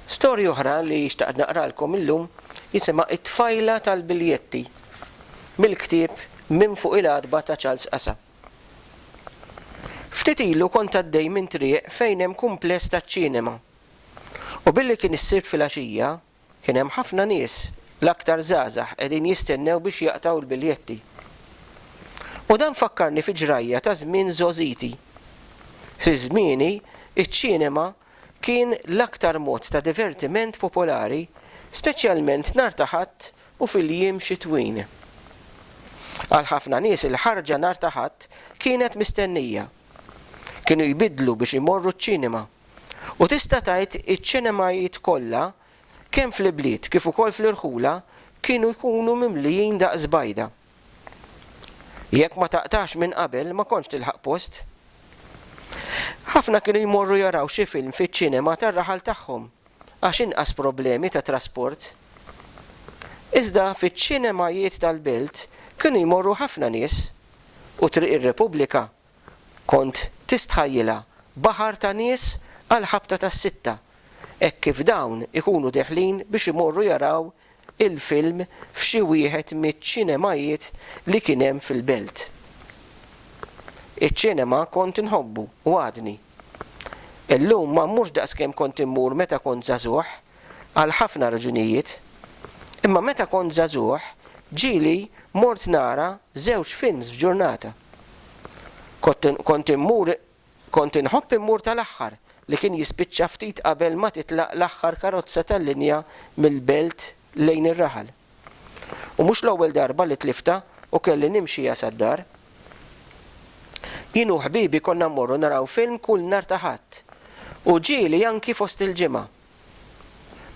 Storja oħra li xtaqt naqralkom illum jisimha It-Tfajla tal-Biljetti mill-ktieb Minn Fuq il-Għatba ta' Charles Qasa. Ftit ilu kont għaddej minn triq fejn hemm kumpless taċ-ċinema u billi kien is-Sibt filgħaxija, Kien hemm ħafna nies, l-aktar żgħażagħ, qegħdin jistennew biex jaqtgħu l-biljetti. U dan fakkarni fi ġrajja ta' żmien żgħożiti. Fi żmieni, iċ-ċinema kien l-aktar mod ta' divertiment popolari, speċjalment nhar ta' Ħadd u fil-jiem xitwin. Għal ħafna nies il-ħarġa nhar ta' Ħadd kienet mistennija. Kienu jbiddlu biex imorru ċ-ċinema. U tista' tgħid iċ-ċinemajiet kollha kemm fl-ibliet kif ukoll fl-irħula kienu jkunu mimlijin daqs bajda. Jekk ma taqtax minn qabel ma kontx tilħaq post. Ħafna kienu jmorru jaraw xi film fiċ-ċinema tar-raħal tagħhom għax inqas problemi ta' trasport. Iżda fiċ-ċinemajiet tal-belt kienu jmorru ħafna nies u Triq ir-Repubblika Kont tistħajjilha baħar ta' nies għall-ħabta tas-sitta, hekk kif dawn ikunu deħlin biex imorru jaraw il-film f'xi wieħed miċ-ċinemajiet li kien hemm fil-belt. Iċ-ċinema kont inħobbu u għadni. Illum ma mmurx daqskemm kont immur meta kont żagħżugħ għal ħafna raġunijiet. Imma meta kont żagħżugħ, ġieli mort nara żewġ films f'ġurnata. Kont immur kont inħobb immur tal-aħħar, li kien jispiċċa ftit qabel ma titlaq l-aħħar karozza tal-linja mill-belt lejn ir-raħal. U mhux l-ewwel darba li tliftha u kelli nimxiha sad-dar. Jien u ħbibi konna mmorru naraw film kull nhar ta' Ħadd, u ġieli anki fost il-ġimgħa.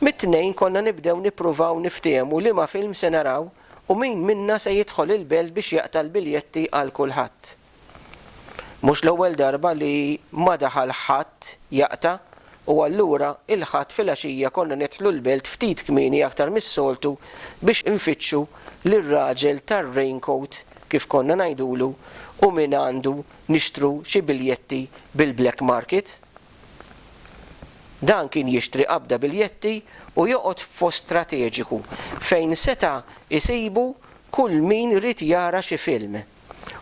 Mit-Tnejn konna nibdew nippruvaw niftiehmu liema film se naraw u min minna se jidħol il-belt biex jaqta' l-biljetti għal kulħadd. Mhux l-ewwel darba li ma daħal ħadd jaqta' u allura il-Ħadd filgħaxija konna nidħlu l-belt ftit kmieni aktar mis-soltu biex infittxu lir-raġel tar-raincoat kif konna ngħidulu u mingħandu nixtru xi biljetti bil-black market. Dan kien jixtri qabda biljetti u joqgħod f'post strateġiku fejn seta' jsibu kull min ried jara xi film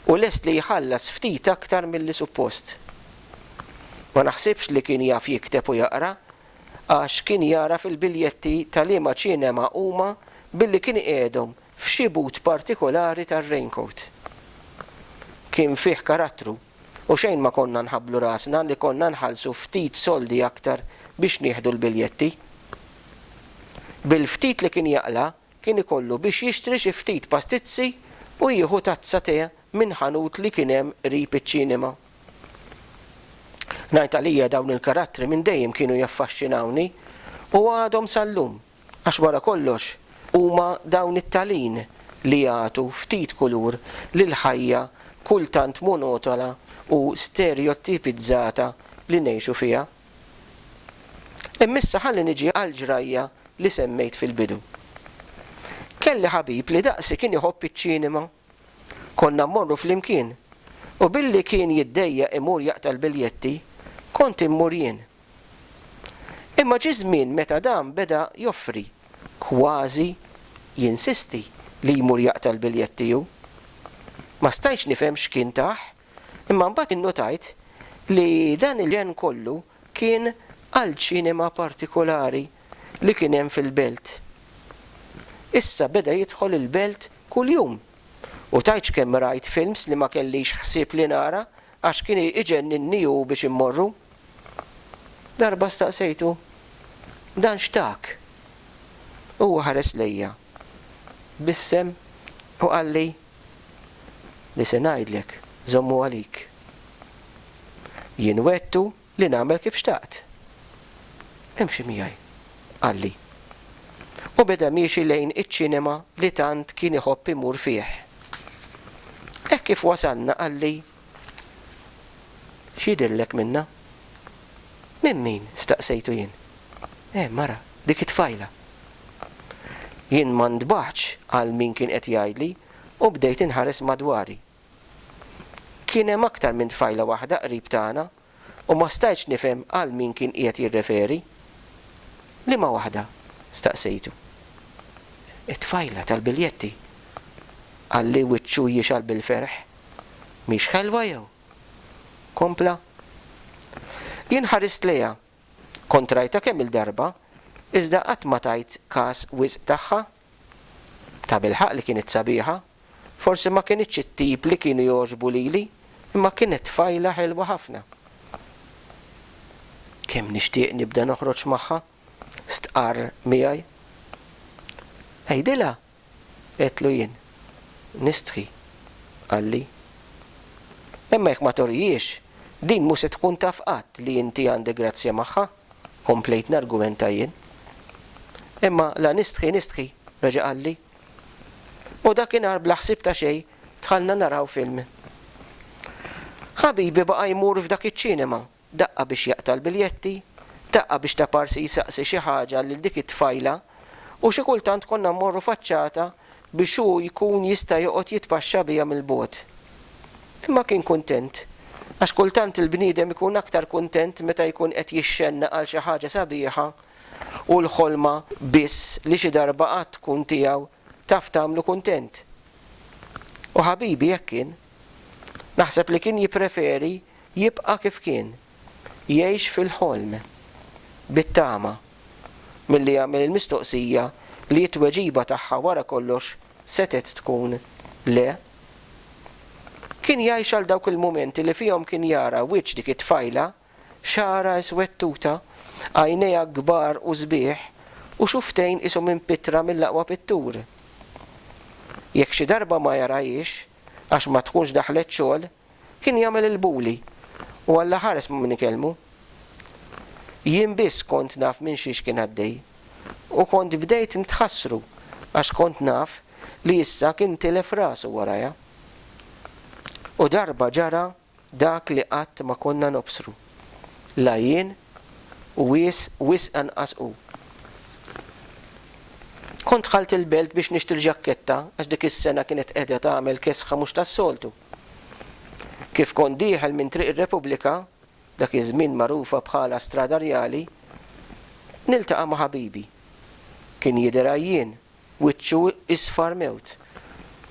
u lest li jħallas ftit aktar milli suppost. Ma naħsibx li kien jaf jikteb u jaqra għax kien jagħraf il-biljetti ta' liema ċinema huma billi kien iqiegħedhom f'xi but partikolari tar-raincoat. Kien fih karattru. u xejn ma konna nħabblu rasna li konna nħallsu ftit soldi aktar biex nieħdu l-biljetti. Bil-ftit li kien jaqla' kien ikollu biex jixtri xi ftit pastizzi u jieħu tazza tè minn ħanut li kien hemm qrib iċ-ċinema. Ngħid għalija dawn il-karattri minn dejjem kienu jaffaxxinawni u għadhom sal-lum. Għax wara kollox huma dawn it-talin li jagħtu ftit kulur lil ħajja kultant monotona u sterjottipizzata li ngħixu fiha. Imma issa ħalli niġi għall-ġrajja li semmejt fil-bidu. Kelli ħabib li daqsi kien iħobb iċ-ċinema. Konna mmorru flimkien u billi kien jiddejjaq imur jaqta' l-biljetti, kont immur jien. Imma ġie żmien meta dan beda joffri, kważi jinsisti li jmur jaqta' l-biljetti hu. Ma stajtx nifhem x'kien tah, imma mbagħad innutajt li dan il-ġenn kollu kien għall-ċinema partikulari li kien hemm fil-belt. Issa beda jidħol il-belt kuljum u tgħidx kemm rajt films li ma kellix ħsieb li nara għax kien iġenninni hu biex immorru. Darba staqsejtu, Dan x'tak? Huwa ħares lejja b'issem u qalli, li se ngħidlek żommu għalik. Jien wegħdtu li nagħmel kif xtaqt. Imxi miegħi, qalli. U beda miexi lejn iċ-ċinema li tant kien iħobb imur fih. Hekk kif wasalna qalli X'jidhirlek minnha? Minn min? staqsejtu jien. Eh, mara, dik it-tfajla. Jien ma ntbaħtx għal min kien qed jgħidli u bdejt inħares madwari. Kien hemm aktar minn tfajla waħda qrib tagħna u ma stajtx nifhem għal min kien qiegħed jirreferi. Liema waħda? staqsejtu. It-tfajla tal-biljetti, qalli wiċċu jixgħal bil-ferħ. Mhix ħelwa jew? kompla. Jien ħarist lejha. Kont rajtha kemm-il darba, iżda qatt ma tajt każ wisq tagħha. Tabilħaqq li kienet sabiħa, forsi ma kinitx it-tip li kienu jogħġbu lili, imma kienet tfajla ħelwa ħafna. Kemm nixtieq nibda noħroġ magħha, stqarr miegħi. Għidilha, għedtlu jien. Nistħi, qalli. Imma jekk ma turihiex, din mhu se tkun taf qatt li inti għandek grazzja magħha. komplejt nargumenta jien. Imma la nistħi nistħi, reġa' qalli. U dakinhar bla ħsieb ta' xejn dħalna naraw film. Ħabibi baqa' jmur f'dak iċ-ċinema, daqqa biex jaqta' l-biljetti, daqqa biex ta' parsi jsaqsi xi ħaġa lil dik it-tfajla u xi kultant konna mmorru faċċata biex hu jkun jista' joqgħod jitpaxxa biha mill-bogħod. Imma kien kuntent, għax kultant il-bniedem ikun aktar kuntent meta jkun qed jixxennaq għal xi ħaġa sabiħa u l-ħolma biss li xi darba qatt tkun tiegħu taf tagħmlu kuntent. U ħabibi hekk kien. Naħseb li kien jippreferi jibqa' kif kien. jgħix fil-ħolm, bit-tama, milli jagħmel il-mistoqsija li t-tweġiba tagħha wara kollox setgħet tkun le. Kien jgħix għal dawk il-mumenti li fihom kien jara wiċċ dik it-tfajla, xagħarha iswettuta, għajnejha kbar u sbieħ, u xufftejn qishom impittra mill-aqwa pittur. Jekk xi darba ma jarahiex, għax ma tkunx daħlet xogħol, Kien jagħmel il-bully u Alla ħares minn ikellmu. Jien biss kont naf minn xiex kien għaddej u kont bdejt ntħassru għax kont naf li issa kien tilef rasu warajha. U darba ġara dak li qatt ma konna nobsru, la jien u wisq anqas hu. Kont dħalt il-belt biex nixtri l-ġakketta għax dik is-sena kienet qiegħda tagħmel kesħa mhux tas-soltu. Kif kont dieħel minn Triq ir-Repubblika, dak iż-żmien magħrufa bħala Strada Rjali, niltaqa' ma' ħabibi. Kien jidher għajjien, wiċċu isfar mewt,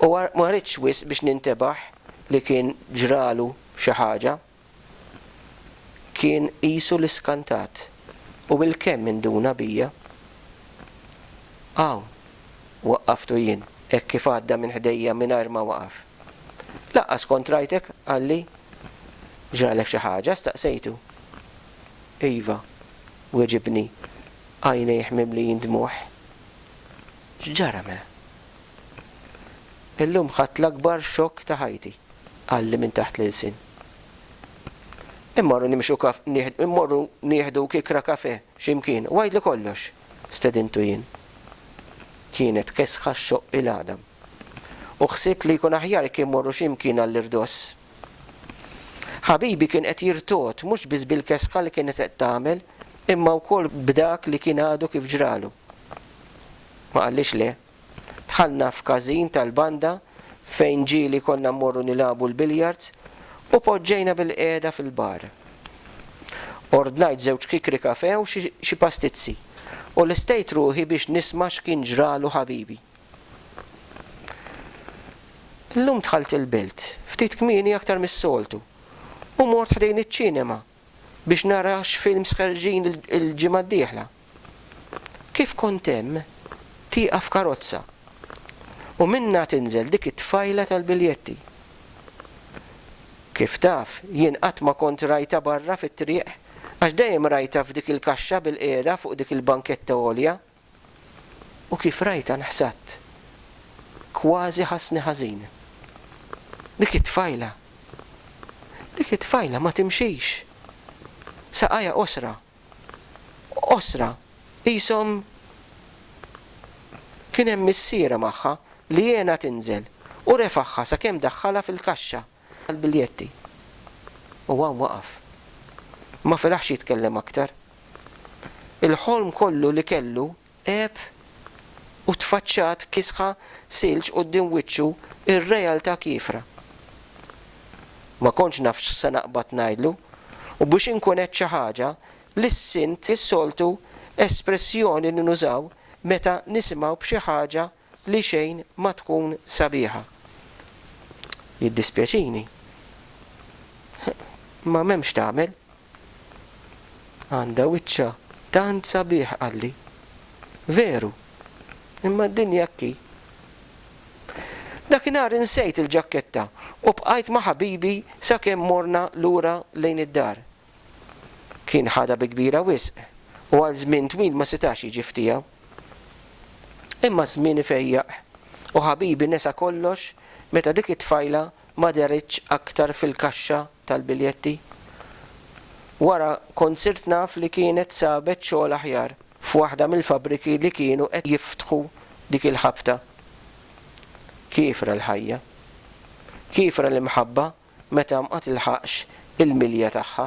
u ma ridtx wisq biex nintebaħ li kien ġralu xi ħaġa. Kien qisu li skantat u bil-kemm induna bija. Hawn! waqqaftu jien hekk kif għadda minn ħdejja mingħajr ma waqaf. Lanqas kont rajtek, qalli. Ġralek xi ħaġa? staqsejtu. Iva, weġibni, għajnejh mimlijin dmugħ. X'ġara mela? Illum ħadt l-akbar xokk ta' ħajti. qalli minn taħt l-ilsien. Immorru nimxu kaf, nieħ, immorru nieħdu kiekra kafè x'imkien u għidli kollox, stedintu jien. Kienet kesħa xxoqq il-għadam. U ħsibt li jkun aħjar jekk immorru x'imkien għall-irdoss. Ħabibi kien qed jirtogħod mhux biss bil-kesħa li kienet qed tagħmel imma wkoll b'dak li kien għadu kif ġralu. Ma qallix le. Dħalna f'każin tal-banda fejn ġieli konna mmorru nilagħbu l-biljards u poġġejna bilqiegħda fil-bar. Ordnajt żewġ kikri kafè u xi pastizzi u lestejt ruħi biex nisma' x'kien ġralu ħabibi. Illum dħalt il-belt ftit kmieni aktar mis-soltu u mort ħdejn iċ-ċinema. biex nara x'films ħerġin il-ġimgħa d-dieħla. Kif kont hemm, tieqaf karozza u minnha tinżel dik it-tfajla tal-biljetti. Kif taf, jien qatt ma kont rajtha barra fit-triq għax dejjem rajtha f'dik il-kaxxa bil-qiegħda fuq dik il-banketta għolja. u kif rajtha nħsadt. Kważi ħassni ħażin. Dik it-tfajla! Dik it-tfajla ma timxix! Saqajha qosra. Qosra, qishom kien hemm missierha magħha li għenha tinżel u refagħha sakemm daħħalha fil-kaxxa. tal-biljetti u hawn waqaf. Ma felaħx jitkellem aktar. Il-ħolm kollu li kellu għeb u tfaċċat kisħa silġ quddiem wiċċu r-realtà kiefra. Ma kontx naf x'se naqbad ngħidlu u biex inkun għedt xi ħaġa li ssint is-soltu espressjoni li nużaw meta nisimgħu b'xi ħaġa li xejn ma tkun sabiħa. Jiddispjaċini. Imma m'hemm x'tagħmel. Għandha wiċċha tant sabiħ qalli. Veru. Imma d-dinja hekk hi. Dakinhar insejt il-ġakketta u bqajt ma' ħabibi sakemm morna lura lejn id-dar. Kien ħadha bi kbira wisq u għal żmien twil ma setax jiġi f'tiegħu. Imma ż-żmien ifejjaq u ħabibi nesa kollox meta dik it-tfajla ma dehritx aktar fil-kaxxa tal-biljetti. Wara kont sirt naf li kienet sabet xogħol aħjar f'waħda mill-fabbriki li kienu qed jiftħu dik il-ħabta. Kiefra l-ħajja. Kiefra l-imħabba meta ma tilħaqx il-milja tagħha.